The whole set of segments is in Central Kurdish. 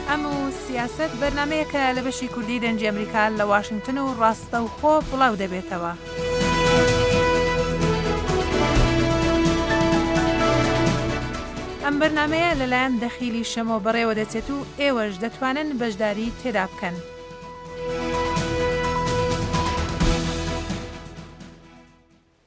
ئەم و سیاسەت بەرنمەیەکە لە بەشی کوردی دەنجی ئەمریکا لە واشنگتن و ڕاستە و خۆ بڵاو دەبێتەوە. ئەم بەرنمەیە لەلایەن دەخیلی شەمۆ بەڕێوە دەچێت و ئێوەش دەتوانن بەشداری تێدا بکەن.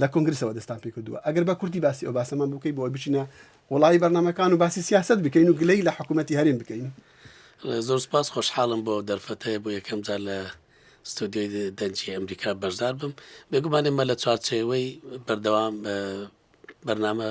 لە کۆنگرسەوە دەستان پێ کردووە ئەگەر بە کورتی باسی ئەو باسەمان بکەی بۆی بچینە وڵی بەرنمەکان و باسی سیاست بکەین و گلەی لە حکوومەتتی هەرێم بکەین زۆر سپاس خۆشحاڵم بۆ دەرفەتەیە بۆ یەکەم جار لە ستۆدیۆی دەنجی ئەمریکا بەشدار بم بێگومانێمە لە چوارچەوەی بەردەوام بەرنامە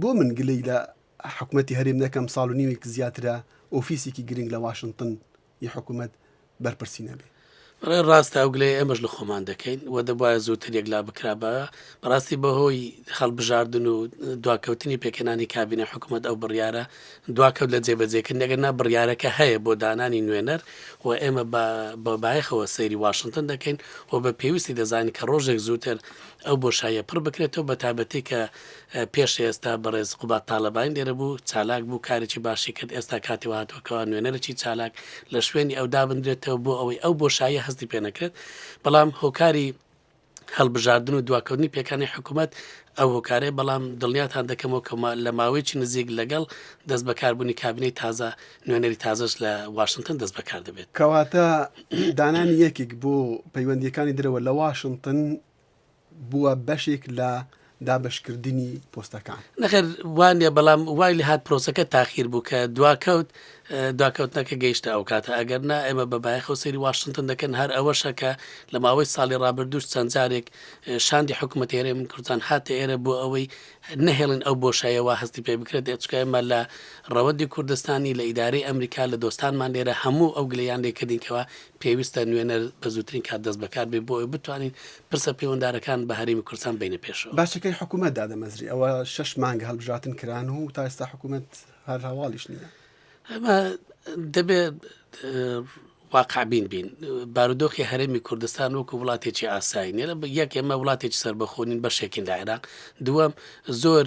بۆ من گلەی لە حکومەتی هەرێم نەکەم ساڵ و نیوێک زیاترە ئۆفیسێکی گرنگ لە واشنتن ی حکومەت بەرپرسی نەبێ. بەڕای ڕاستە ئەو گلەیە ئێمەش لە خۆمان دەکەین و دەبوایە زووتر یەکلا بکرابایە، بەڕاستی بەهۆی هەڵبژاردن و دواکەوتنی پێکهێنانی کابینە حکومەت ئەو بڕیارە دواکەوت لە جێبەجێکردنی، ئەگەرنا بڕیارەکە هەیە بۆ دانانی نوێنەر و ئێمە بە بایەخەوە سەیری واشنتن دەکەین و بە پێویستی دەزانین کە ڕۆژێک زووتر ئەو بۆشاییە پڕ بکرێتەوە بەتایبەتی کە پێش ئێستا بەڕێز قوباد تاڵەبانی لێرە بوو چالاک بوو کارێکی باشی کرد ئێستا کاتی وهاتووە کەوا نوێنەرێکی چالاک لە شوێنی ئەو دابندرێتەوە بۆ ئەوەی ئەو بۆشاییە هەستی پێ نەکرێت بەڵام هۆکاری هەڵبژاردن و دواکەوتنی پێکانی حکوومەت ئەو هۆکارەیە بەڵام دڵنیاتان دەکەمەوە کە لە ماوەیەکی نزیک لەگەڵ دەست بەکاربوونی کابینەی تازە نوێنەری تازەش لە واشنگتن دەست بەکار دەبێت کەواتە دانانی یەکێک بۆ پەیوەندیەکانی درەوە لە واشنگتن بووە بەشێک لە دابەشکردنی پۆستەکان نەخێر وانە بەڵام وای لە هاات پرۆسەکە تاخیر بوو کە دواکەوت داکەوتنەکە گەیشتە ئەو کاتە ئەگەر نا ئێمە بە بایەخەوە سەری واشنگتن دەکەن هەر ئەوەشە کە لە ماوەی ساڵی ڕابردوش چەند جارێک شاندی حکوومەت ئێرە من کوردستان هاتە ئێرە بۆ ئەوەی نەهێڵن ئەو بۆشایەوە هەستی پێ بکرێت ئەچکایمە لە ڕەوەندی کوردستانی لە ئیدارەی ئەمریکا لە دۆستانمان لێرە هەموو ئەو گلیان لێکردینکەوە پێویستە نوێنەر بە زووترین کات دەست بەکار بێت بۆ ئەوەی بتوانین پرسە پەیوەندارەکان بە هەرێمی کوردستان ببەینە پێشەوە. باجەکەی حکوومەت دادەمەزری، ئەوە شەش مانگە هەڵبژراتن کران و تا ئێستا حکوومەت هەر هەواڵیش نییە. ئەمە دەبێت واقعبین بین بارودۆخی هەرێمی کوردستان وەکو وڵاتێکی ئاسایی نێرە یەک ئێمە وڵاتێکی سربەخۆنین بەشێکین لە عێراق دووەم زۆر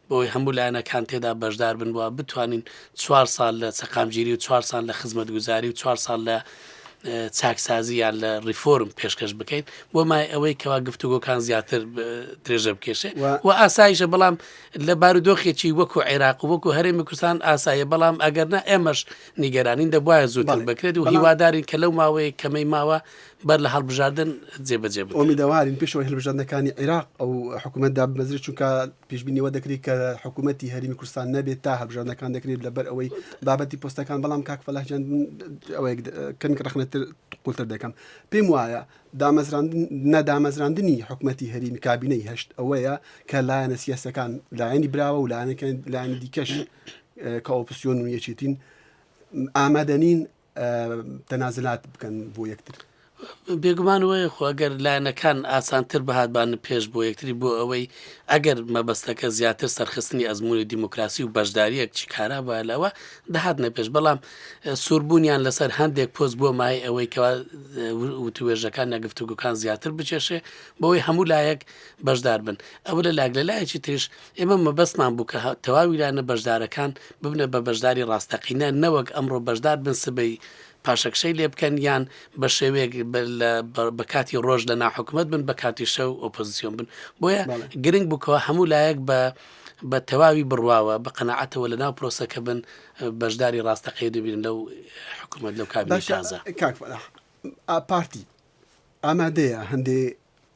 بۆوەی هەموو لایەنەکان تێدا بەشدار بن و بتوانین چوار ساڵ لە سەقامگیری و چوار ساڵ لە خزمەتگوزاری و چوار ساڵ لە چاکسازی یان لە ریفۆرم پێشکەش بکەین بۆ مای ئەوەی کەوا گفتوگۆکان زیاتر درێژە بکێشێ و ئاسایشە بەڵام لە بارودۆخێکی وەکو عێراق وەکو هەرێمی کوردستان ئاسایە بەڵام ئەگەرنا ئێمەش نیگەرانین دەبواە زووتر بکرێت و هیوادارین کە لەو ماوەیە کەمەی ماوە بەر لە هەڵبژاردن جێبەجێ بۆمیداوارین پێشەوەی هەلبژاردنەکانی عێراق ئەو حکوومەت دابمەزری چونکە پێشبینی ئەوە دەکرێت کە حکوومەتی هەرمی کوردستان نەبێت تا هەبژاردنەکان دەکرێت لەبەر ئەوەی بابەتی پۆستەکان بەڵام کاک فەلاحجان کەمێک ڕخنەتر قوتر دەکەم پێم وایە دامەزراندن نەدامەزراندنی حکوومەتی هەریم کابینەی هەشت ئەوەیە کە لایەنە سیاسەکان لایەنی براوە و لایەنەکان لایەنی دیکەش کە ئۆپسیۆن و یەکێتین ئامادەنین تەنازلات بکەن بۆ یەکتر. بێگومان وەیە خۆ ئەگەر لایەنەکان ئاسانتر بهاتبان پێش بۆ یەکتری بۆ ئەوەی ئەگەر مەبەستەکە زیاتر سەرخستنی ئەزمموی دیموکراسی و بەشداریەک چی کارا بە لەوە دەهات نەپێش بەڵام سووربوونیان لەسەر هەندێک پۆز بۆ مای ئەوەی کەوا وتوێژەکان نەگفتوگوکان زیاتر بچێشێ بۆی هەموو لایەک بەشدار بن ئەوە لە لاگ لە لایەکی تریش ئێمە مەبەستمان بوو کە تەواوی لانە بەشدارەکان ببنە بە بەشداری ڕاستەقینە نەوەک ئەمڕۆ بەشدار بن سبەی پاشەکشەی لێ بکەن یان بە شێوەیەک بە کاتی ڕۆژ لە ناحکومت بن بە کاتی شەو ئۆپۆزیسیۆن بن بۆیە گرنگ بکەوە هەموو لایەک بە بە تەواوی بڕواوە بە قەنەعەتەوە لە ناو پرۆسەکە بن بەشداری ڕاستەقەی دەبین لەو حکوومەت لەو کابینازە پارتی ئامادەیە هەندێ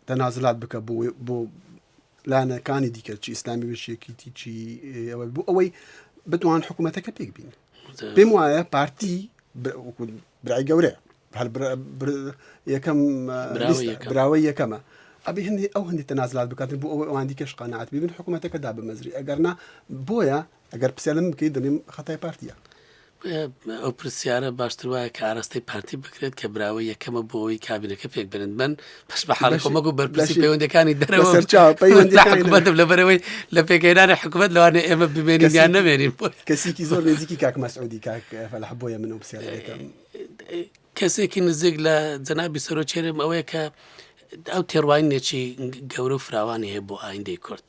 تەنازلات بکە بۆ بۆ لایەنە کانی دیکە چی ئسلامی بەشێکیتی چی ئەوە بوو ئەوەی بتوان حکوومەتەکە پێک بین پێم وایە پارتی برای گەورە هەر یەکەم براوەی یەکەمە ئەبی هەندی ئەو هەندی تەنازلات بکاتن بۆ ئەوەی ئەوان دیکەش قەنەعات ببن حکوومەتەکەدا بمەزری ئەگەرنا بۆیە ئەگەر پرسیار لەمن بکەیت دەڵێم خەتای پارتییە. ئەو پرسیارە باشتر وایە کە ئاراستەی پارتی بکرێت کە براوە یەکەمە بۆ ئەوی کابینەکە پێک بنن بن پش بە حاڵی خۆمەک و بەرپرسی پەیوەندەکانی دەرەوەدەم لە بەرەوەی لە پێکەێنانی حکوومەت لەوانێ ئێمە بمێنین یان نەمێنین کەسیکی زۆر نزیکی کاک مەسعودی کاک فەلح بۆیە من ئەو پرسیارەکەم کەسێکی نزیک لە جەنابی سەرۆکی هەرێم ئەوەیە کە ئەو تێڕوانینێکی گەورە و فراوانی هەیە بۆ ئایندەی کورد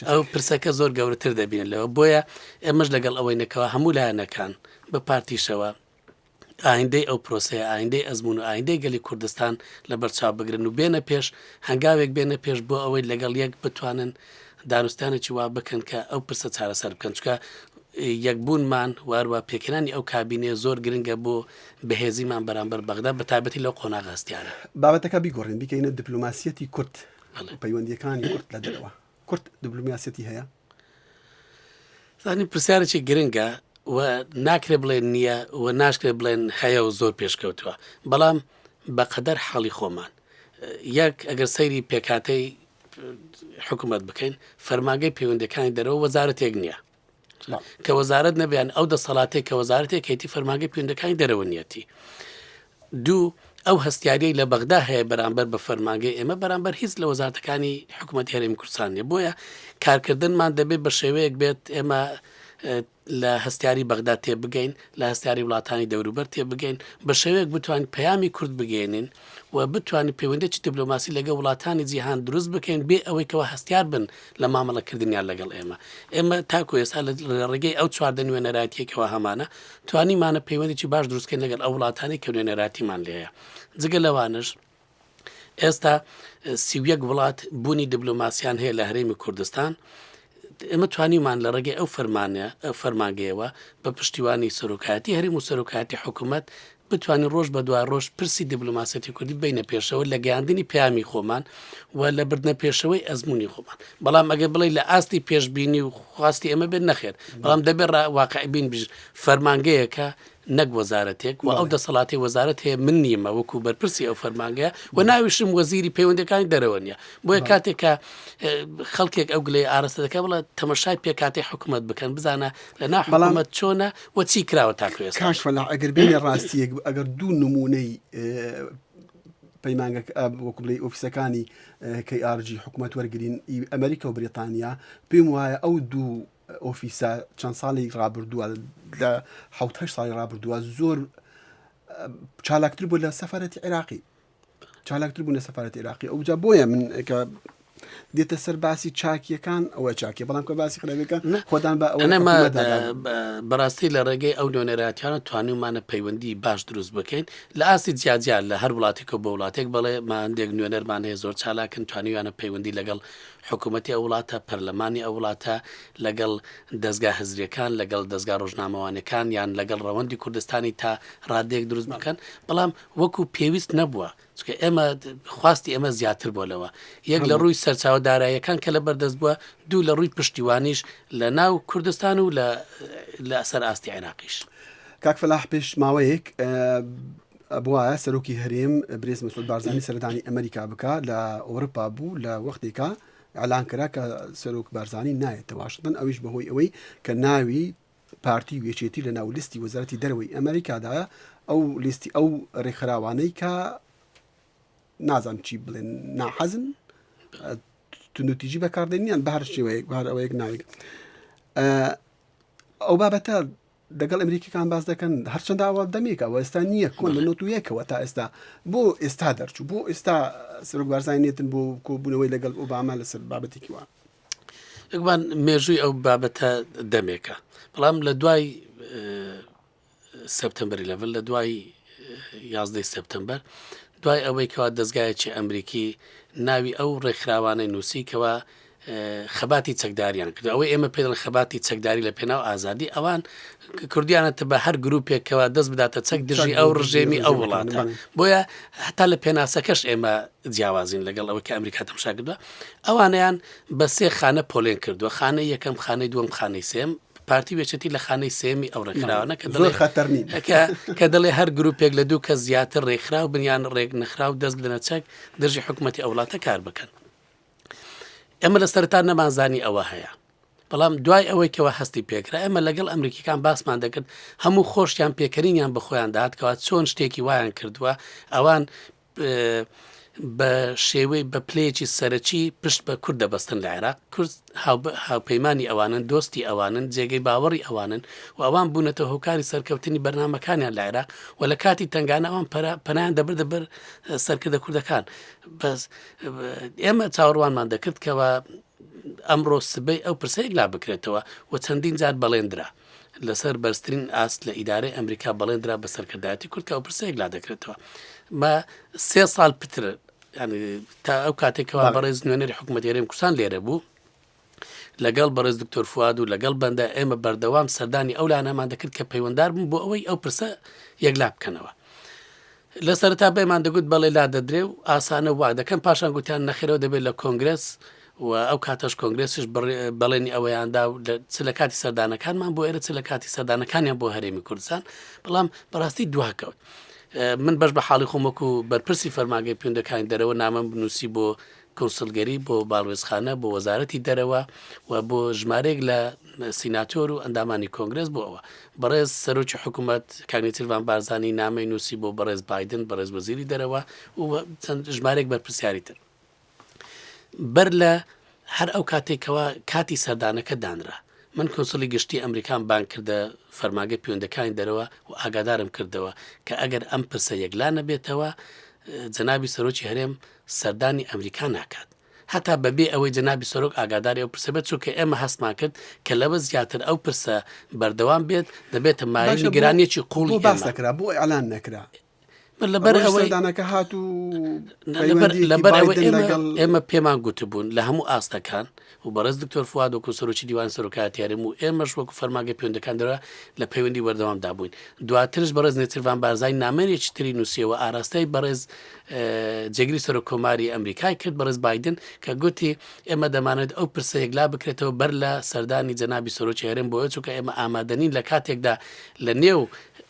ئەو پرسەکە زۆر گەورەتر دەبین لەوە بۆیە ئێمەش لەگەڵ ئەوەی نەکەوە هەموو لایەنەکان بە پارتیشەوە ئایندەی ئەو پرۆسەیە ئایندەی ئەزمون و ئایندەی گەلی کوردستان لە بەرچاو بگرن و بێنە پێش هەنگاوێک بێنە پێش بۆ ئەوەی لەگەڵ یەک بتوانن دانوستانێکی وا بکەن کە ئەو پرسە چارەسەر بکەن چکە یەکبوونمان واروا پێکرانی ئەو کابینێ زۆر گرنگە بۆ بەهێزیمان بەرامبەر بەغدا بە تایبەتی لەو قۆناغە هەستیارە. بابەتەکە بیگۆڕین بیکەینە دبلۆماسیەتی کورد و پەیوەندیەکانی کورد لە دەرەوە کورد دبلۆماسیەتی هەیە؟ زانین پرسیارێکی گرنگە و ناکرێ بڵێن نییە و ناشکرێ بڵێن هەیە و زۆر پێشکەوتووە بەڵام بەقەدەر حاڵی خۆمان یەک ئەگەر سەیری پێکاتەی حکوومەت بکەین فەرماگەی پەیوەندەکانی دەرەوە وەزارەتێک نییە کە وەزارەت نەبیان ئەو دەسەڵاتێک کە وەزارەتێک هێتی فەرماگەی پوندەکانی دەرەوە نیەتی دوو ئەو هەستیاری لە بەغدا هەیە بەرامبەر بە فەرماگەی ئێمە بەرامبەر هیچ لە وەزارەتەکانی حکوومەت هەرێم کوردستانە بۆیە کارکردنمان دەبێت بە شێوەیەک بێت ئێمە لە هەستیاری بەغدا تێبگەین لە هەستیاری وڵاتانی دەوروبەر تێبگەین بە شێوەیەک بتوان پەیامی کورد بگەێنین و بتوانین پەیوەندیەکی دبلۆماسی لەگەڵ وڵاتانی جیهان دروست بکەین بێ ئەوەی کەوا هەستیار بن لە مامەڵەکردنیان لەگەڵ ئێمە ئێمە تاکو ئێستا لە ڕێگەی ئەو چواردە نوێنەرایەتیەکەوە هەمانە توانیمانە پەیوەندێکی باش دروستکەین لەگەڵ ئەو وڵاتانی کە نوێنەراتیمان لێە جگە لەوانش ئێستا سیویەک وڵات بوونی دبلۆماسیان هەیە لە هەرێمی کوردستان ئێمە توانیمان لە ڕێگەی ئەو فەرمانە فەرمانگەیەوە بە پشتیوانی سەرۆکایەتی هەریم و سەرۆکایەتی حکوومەت بتوانین ڕۆژ بە دوای ڕۆژ پرسی دیبلوماسەتی کوردی بینە پێشەوە لە گەاندنی پامی خۆمان و لە بردنە پێشەوەی ئەزمموی خۆمان بەڵام ئەگەر بڵێ لە ئاستی پێشببینی و خواستی ئەمە بێت نەخێت بەڵام دەبێت واقعبین بژ فەرمانگەیەکە نەک وەزارەتێک، وە ئەو دەسەڵاتەی وەزارەت هەیە من نیمە وەکو بەرپرسی ئەو فەرمانگەیە و ناویشم وەزیری پەیوەندەکانی دەرەوە نیە بۆیە کاتێک کە خەڵکێک ئەو گلەی ئارەستە دەکە بڵە تەمەشای پێکاتی حکوومەت بکەن بزانە لە ناحڵامەت چۆنە وە چی کراوە تاکوێ کاش فەلا ئەگەر بێنە ڕاستیەک ئەگەر دوو نمونەی پەیمانگە وەکو بلی ئۆفیسەکانی کەی ئارجی حکوومەت وەرگین ئەمریکا و بریتانیا پێم وایە ئەو دوو ئۆفیسە چەند ساڵی ڕابردووە لە حوت هەشت ساڵی ڕابردووە زۆر چالاکتر بوو لە سەفرەتی عێراقی چالاکتر بوو لە سەفرەت عێراقی ئەوجا بۆیە من کە دێتە سەر باسی چاکیەکان ئەوە چاکی بەڵام کە باسی خراپەکان خۆدان بە ئەوەمە بەڕاستی لە ڕێگەی ئەو نوێنەراتیانە توانیمانە پەیوەندی باش دروست بکەین لە ئاستی جیاجار لە هەر وڵاتێکەوە بە وڵاتێک بڵێ ماندێک نوێنەرمان هەیە زۆر چالاکن توانیویانە پەیوەندی لەگەڵ حکومەتی ئەو وڵاتە، پەرلەمانی ئەو وڵاتە، لەگەڵ دەزگا هزرییەکان، لەگەڵ دەزگا ڕۆژنامەوانیەکان، یان لەگەڵ ڕەوەندی کوردستانی تا ڕادەیەک دروست بکەن، بەڵام وەکو پێویست نەبووە، چونکە ئێمە خواستی ئێمە زیاتر بووە لەوە، یەک لە ڕووی سەرچاوە داراییەکان کە لەبەردەست بووە، دوو لە ڕووی پشتیوانیش لە ناو کوردستان و لە لە سەر ئاستی عێراقیش. کاک فەلاح پێش ماوەیەک بوایە سەرۆکی هەرێم برێز مسود بارزانی سەردانی ئەمریکا بکە لە ئۆرپا بوو لە وەختێکا ئەلان کرا کە سەرۆک بارزانانی نایێتە واشتن ئەویش بەهۆی ئەوەی کە ناوی پارتی و یەکێتی لە ناو لیستی وەزارەتی دەرەوەی ئەمریکادایە ئەو لیستی ئەو ڕێکخراوانەی کە نازان چی بڵێن ناحەزن تونوتیجی بەکاردێنیان بەهر شێوەیەک بار ئەوەیەک ناوێک ئەو بابەتە دەگەڵ ئەمریکیەکان باس دەکەن هەرچەند ئاوا دەمێک ئەوە ئێستا نییە کۆن لە نۆت یەکەوە تا ئێستا بۆ ئێستا دەرچوو بۆ ئێستا سەرۆک بارزانانی نێتن بۆ کۆبوونەوەی لەگەڵ ئۆباما لەسەر بابەتێکی وە یەکبان مێژووی ئەو بابەتە دەمێکە بەڵام لە دوای سپتمبری لەڤل لە دوای یازدەی سپتمبەر دوای ئەوەی کەوا دەستگایەکی ئەمریکی ناوی ئەو ڕێکخراوانەی نووسی کەەوە خەباتی چەکداریان کردوە، ئەوەی ئێمە پێدەڵێن خەباتی چەکداری لە پێناو ئازادی ئەوان کردویانەتە بە هەر گروپێک کەوا دەست بداتە چەک دژی ئەو ڕژێمی ئەو وڵاتە بۆیە هەتا لە پێناسەکەش ئێمە جیاوازین لەگەڵ ئەوە کە ئەمریکا تەمشا کردوە ئەوانیان بە سێ خانە پۆلێن کردووە خانە یەکەم خانەی دووەم خانەی سێم پارتی وێچێتی لە خانەی سێمی ئەو ڕێکخراوانە کە دڵێ خەتەرنی کە دڵێ هەر گروپێک لە دوو کە زیاتر ڕێکخراو بنیان ڕێک نەخراو دەست بدەنە چەک دژی حکوومەتتی ئەوڵاتە کار بکەن ئێمە لە سەرتا نەمانزانی ئەوە هەیە بەڵام دوای ئەوەی کەەوە هەستی پێکرا ئێمە لەگەڵ ئەمریکیەکان باسمان دەکرد هەموو خۆشیان پێکەرینیان بەخۆیان داهاتکەوە چۆن شتێکی وایان کردووە ئەوان بە شێوەی بە پلەیەکی سەرەکی پشت بە کورد دەبەستن لە عێراق کورد هاوپەیمانانی ئەوانن دۆستی ئەوانن جێگەی باوەڕی ئەوانن و ئەوان بوونەتە هۆکاری سەرکەوتنی بەرنمەکانیان لە عێراق و لە کاتی تنگانەوان پەنیان دەبردە بەر سەرکردە کوردەکان بەس ئێمە چاوەڕوانمان دەکرد کەوا ئەمڕۆ سبەی ئەو پرسەیەک لا بکرێتەوە و چەندین جار بەڵێندرا لەسەر بەرزترین ئاست لە ئیدارەی ئەمریکا بەڵێندرا بە سەرکردایەتی کورد کە ئەو پرسەیەک لا دەکرێتەوە بە سێ ساڵ پتر تا ئەو کاتێکەوە بەڕێز نوێنەری حکوومەت هێرێم کوردستان لێرە بوو لەگەڵ بەڕێز دکتۆر فواد و لەگەڵ بەندە ئێمە بەردەوام سەردانی ئەو لانەمان دەکرد کە پەیوەندار بوون بۆ ئەوەی ئەو پرسە یەکلا بکەنەوە لە سەرتا بەمان دەگوت بەڵێ لا دەدرێ و ئاسانە وا دەکەن پاشان گوتیان نەخێرەوە دەبێت لە کۆنگرس و ئەو کاتەش کۆنگرسش بەڵێنی ئەوەیاندا و چ لە کاتی سەردانەکانمان بۆ ئێرە چ لە کاتی سەردانەکانیان بۆ هەرێمی کوردستان بەڵام بەڕاستی دواکەوت. من بەش بە حاڵی خۆمەک و بەرپرسی فەرماگەی پێندەکانی دەرەوە نامەم بنووسی بۆ کونسڵگەری بۆ باڵوێزخانە بۆ وەزارەتی دەرەوە و بۆ ژمارێک لە سیناتۆر و ئەندامانی کۆنگرس بۆ ئەوە بەڕێز سەرۆکی حکوومەت کاگنیتیڤان بارزانانی نامەی نووسی بۆ بەڕێز بادن بەڕێز وەزیری دەرەوە و چەند ژمارێک بەرپسیاری تر بەر لە هەر ئەو کاتێکەوە کاتی سەردانەکە دانرا من کۆسلی گشتی ئەمریکان بان کردە فەرماگە پوێندەکانی دەرەوە و ئاگادارم کردەوە کە ئەگەر ئەم پرسە یەکلا نەبێتەوە جەنابی سەرۆکی هەرێم سەردانی ئەمریکا ناکات. هەتا بەبێ ئەوەی جەنابی سەرۆک ئاگاداری ئەو پرسە بێت، چونکە ئێمە هەستمان کرد کە لەوە زیاتر ئەو پرسە بەردەوام بێت، دەبێتە مایەی نیگەرانییەکی قووڵی ئێمە. باشە بۆ باس نەکرا؟ بۆ ئیعلان نەکرا؟ ئەوەی سەردانەکە هات و پەیوەندییەکی بایدن لەگەڵ. ئێمە پێمان گوتبوون لە هەموو ئاستەکان، و بەڕێز دکتۆر فواد وەکو سەرۆکی دیوانی سەرۆکایەتی هەرێم و ئێمەش وەکو فەرمانگەی پەیوەندیەکان دەرە لە پەیوەندی وەردەوام دا بووین دواترش بەڕێز نێچیرڤان بارزانی نامەیەکی تری نووسیەوە ئاراستەی بەڕێز جێگری سەرۆک کۆماری ئەمریکای کرد بەڕێز بادن کە گوتی ئێمە دەمانێت ئەو پرسە یەکلا بکرێتەوە بەر لە سەردانی جەنابی سەرۆکی هەرێم بۆیە چونکە ئێمە ئامادەنین لە کاتێکدا لە نێو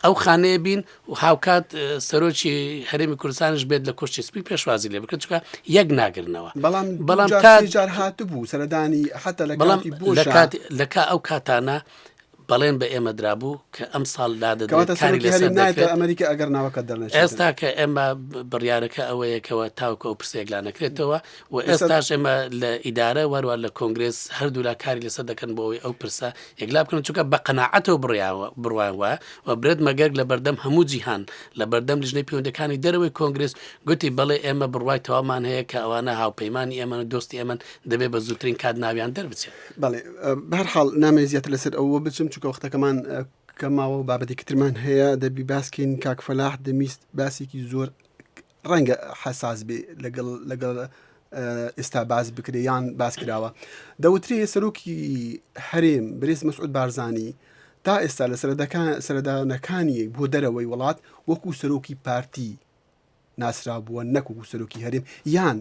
ئەو خانەیە بین و هاوکات سەرۆکی هەرێمی کوردستانش بێت لە کۆشتی سپی پێشوازی لێ بکەن چکە یەک ناگرنەوە بەڵام بەڵام تا جار هاتبوو سەردانی حتا لە بەڵام لە کا ئەو کاتانە بەڵێن بە ئێمە درابوو کە ئەم ساڵ ئەمریکا ئەگەر ناوەکە دەڵێت ئێستا کە ئێمە بڕیارەکە ئەوەیەکەوە تاوکە و پرسێکلانەکرێتەوە و ئێستاش ئێمە لە ئیدارە و هەروە لە کۆنگرێس هەردوولا کاری لەسەر دەکەن بۆ ئەوەی ئەو پرسە یەکلا بکەن چونکە بە قەنەعەتەوە بڕیاوە بڕوان وایە و برێت مەگەرگ لە بەردەم هەموو جیهان لە بەردەم لیژنەی پەیوەندەکانی دەرەوەی کۆنگرس گوتی بەڵێ ئێمە بڕوای تەوامان هەیە کە ئەوانە هاوپەیمانانی ئێمە و دۆستی ئەمن دەبێت بە زووترین کات ناویان دەربچێت بەڵێ بەرحاڵ نامێ زیاتر لەسەر ئەوە بچم چونکە وەختەکەمان کە ماوە و بابەتێکی ترمان هەیە دەبی باسکەین کاکفەلاح دەمیست باسێکی زۆر ڕەنگە حەساس بێ لەگەڵ لەگەڵ ئێستا باس بکرێ یان باس کراوە دەوترێ سەرۆکی هەرێم برێز مەسعود بارزانانی تا ئێستا لە سەردانەکانی بۆ دەرەوەی وڵات وەکو سەرۆکی پارتی ناسرا بووە نەکوکو سەرۆکی هەرێم یان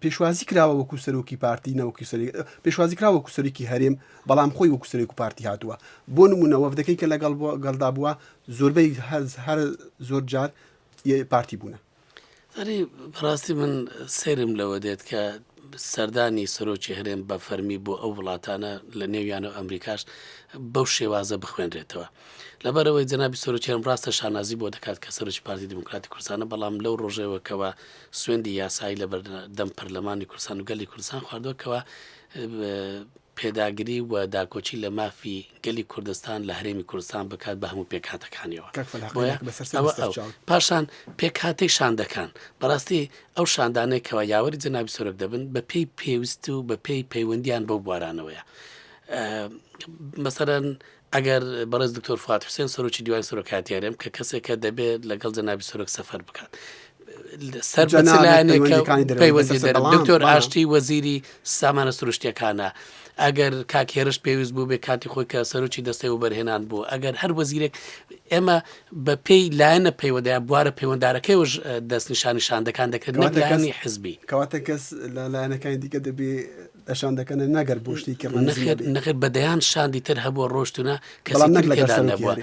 پێشوازی کراوە وەکو سەرۆکی پارتی نەوەکی سەر پێشوازی کرا وەکو سەرێکی هەرێم بەڵام خۆی وەکو سەرێک و پارتی هاتووە بۆ نمونە وەفدەکەی کە لەگەڵ بۆ گەڵدا بووە زۆربەی هەز هەر زۆر جار پارتی بوونە ئەری بەڕاستی من سرم لەوە دێت کە سەردانی سەرۆکی هەرێم بە فەرمی بۆ ئەو وڵاتانە لە نێویانە و ئەمریکاش بەو شێوازە بخوێنرێتەوە لەبەرەوەی جەنابی سەرۆکیان ڕاستە شانازی بۆ دەکات کە سەرۆکی پارتی دیموکراتی کوردستانە بەڵام لەو ڕۆژێوەکەوە سوێندی یاسایی لە بەردەم پەرلەمانی کوردستان و گەلی کوردستان خواردووە کەوا پێداگری و داکۆچی لە مافی گەلی کوردستان لە هەرێمی کوردستان بکات بە هەموو پێکاتەکانیەوە پاشان پێکاتی شاندەکان بەڕاستی ئەو شاندانەی کەوا یاوەری جەنابی سۆرک دەبن بە پێی پێویست و بە پێی پەیوەندیان بەو بوارانەوەیە مەسەرەن ئەگەر بەڕێز دکتۆر فواد حوسێن سەرۆکی دیوانی سەرۆکایەتی هەرێم کە کەسێکە دەبێت لەگەڵ جەنابی سەرۆک سەفەر بکات سەر بە چ جەنابت لایەنێکە پەیوەندیەکانی دەرەوەی پەیوەندی بەسەرسە دەرەوە بەڵام، دکتۆر بەڵام. ئاشتی وەزیری سامانە سروشتیەکانە ئەگەر کاک هێرش پێویست بوو بێ کاتی خۆی کە سەرۆکی دەستەی وبەرهێنان بوو ئەگەر هەر وەزیرێک ئێمە بە پێی لایەنە پەیوەدەیە بوارە پەیوەندارەکەیوش دەست نیشانیشان دەکان دەکرێت نەک کەواتە کەس- لایەنی حزبی کەواتە کەس لە لایەنەکانی دیکە دەبێ شان دەکەنە نەگەر بۆ شتێکی ڕەنەخێت نەخێت بە دەیان شاندی تر هەبووە ڕۆشتونە کەڵام نەک لەگەدا نەبووە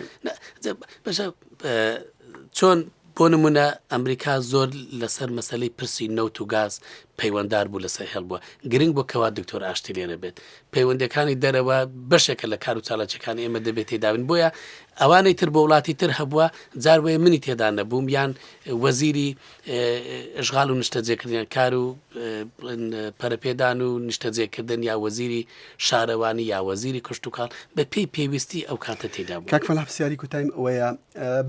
بەشە چۆن بۆ نمونە ئەمریکا زۆر لەسەر مەسلەی پرسی نەوت و گاز پەیوەندار بوو لەسەر هێڵ بووە گرنگ بۆ کەوا دکتۆر ئاشتی لێرە بێت پەیوەندەکانی دەرەوە بەشێکە لە کار و چالاچەکانی ئێمە دەبێت تێدابن بۆیە ئەوانەی تر بۆ وڵاتی تر هەبووە جاروێ منی تێدا نەبووم یان وەزیری ئەشغال و نیشتەجێکردنیان کار و بڵێن پەرەپێدان و نیشتەجێکردن یا وەزیری شارەوانی یا وەزیری کشتتوکاڵ بە پێی پێویستی ئەو کاتە تێدا بوو کاک فەلاح پرسیاری کوتایم ئەوەیە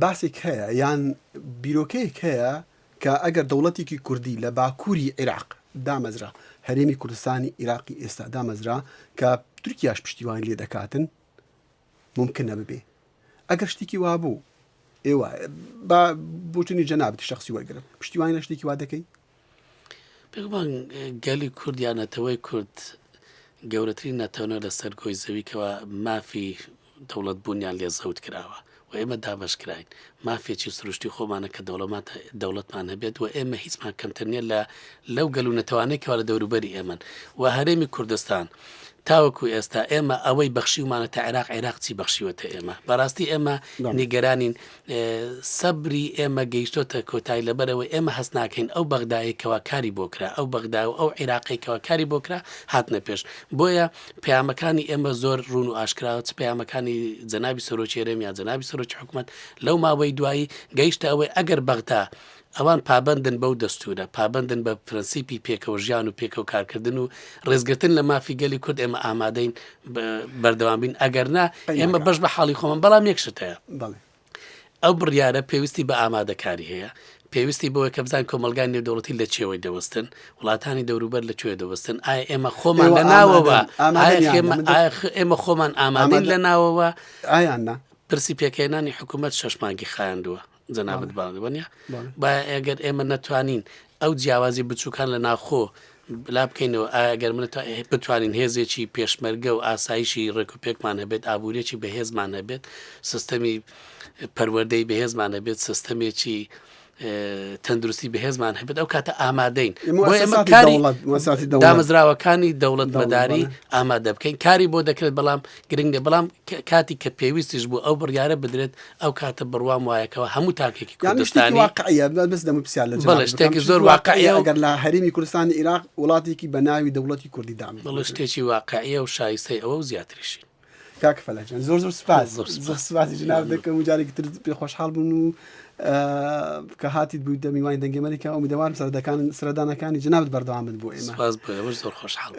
باسێک هەیە یان بیرۆکەیەک هەیە کە ئەگەر دەوڵەتێکی کوردی لە باکووری عێراق دامەزرا هەرێمی کوردستانی عێراقی ئێستا دامەزرا کە تورکیاش پشتیوانی لێ دەکاتن مومکن نەببێ ئەگەر شتێکی وابوو ئێوە با بوتنی جەنابتی شخصی وەرگرم پشتیوانی لە شتێکی وا دەکەی پێمان گەلی کورد یان نەتەوەی کورد گەورەترین نەتەونە لەسەر گۆی زەویکەوە مافی دەوڵەت بوونیان لێ زەوت کراوە و ئێمە دابشکراین مافێکی سروشتی خۆمانە کە دەوڵەمات دەوڵەتمان هەبێت و ئێمە هیچمان کەمتر نیە لە لەو گەل و نەتەوانەی کەوا لە دەوروبەری ئێمەن و هەرێمی کوردستان تاوەکو ئێستا ئێمە ئەوەی بەخشیومانە تا عێراق عێراق چی بەخشیوەتە ئێمە بەڕاستی ئێمە نیگەرانین سەبری ئێمە گەیشتۆتە کۆتایی لەبەرەوەی ئێمە هەست ناکەین ئەو بەغدایەکەوە کاری بۆکرا ئەو بەغدا و ئەو عێراقیکەوە کاری بۆکرا هاتنە پێش بۆیە پەیامەکانی ئێمە زۆر ڕوون و ئاشکراوە چ پەیامەکانی جەنابی سەرۆکی هەرێم یا جەنابی سەرۆکی حکوومەت لەو ماوەی دوایی گەیشتە ئەوەی ئەگەر بەغدا ئەوان پابندن بەو دەستورە پابندن بە پرەنسیپی پێکەوە ژیان و پێکەوە کارکردن و ڕێزگرتن لە مافی گەلی کورد ئێمە ئامادەین بەردەوامبین ئەگەرنا ئێمە بەش بە حاڵی خۆمان بەڵام یەکشتەیە بەڵێ ئەو بڕیارە پێویستی بە ئامادەکاری هەیە، پێویستی بەوەیە کە بزانین کۆمەڵگای نێودەوڵەتی لە چییەوەی دەوەستن، وڵاتانی دەوروبەر لە کوێ دەوەستن، ئایا ئێمە خۆمان لە ناوەوە، ئایا ئێمە خۆمان ئامادەین لە ناوەوە، ئایا نا؟ پرسی پێکهێنانی حکوومەت شەش مانگی خایاندووە، جەنابت باڵی وەنیە، با ئەگەر ئێمە نەتوانین ئەو جیاوازی بچوکان لە ناوخۆ لا بکەینەوە، ئایا گەر من و تۆ بتوانین هێزێکی پێشمەرگە و ئاسایشی ڕێکوپێکمان هەبێت، ئابووریەکی بەهێزمان هەبێت، سستەمی پەروەردەی بەهێزمان هەبێت، سستەمێکی تەندروستی بەهێزمان هەبێت ئەو کاتە ئامادەین دامەزراوەکانی دەوڵەت مەداری ئامادە بکەین کاری بۆ دەکرێت بەڵام گرنگ نیە بەڵام کاتیک کە پێویستیش بوو ئەو بڕیارە بدرێت ئەو کاتە بڕوام وایە کەوا هەموو تاکێکی کوردستانی بەڵێ شتێکی زۆر واقعیە و گەر لە هەرێمی کوردستانی ئیراق وڵاتێکی بە ناوی دەوڵەتی کوردی دامەزرێت بەڵێ شتێکی واقعیە و شایستەی ئەوە و زیاتریشی کاک فەلەک جان زۆر زۆر سپاس زۆر زۆر سپاسی جناب دەکەم و جارێکی تر پێ خۆشحاڵ بووم و کە هاتیت بوویتە میوانی دەنگێمەریکا ئەومیدەوارم سەردەکان سەردانەکانی جنابت بەردەوام بن بۆ ئێمە سپاس بۆ ئێوەش زۆر خۆشحاڵ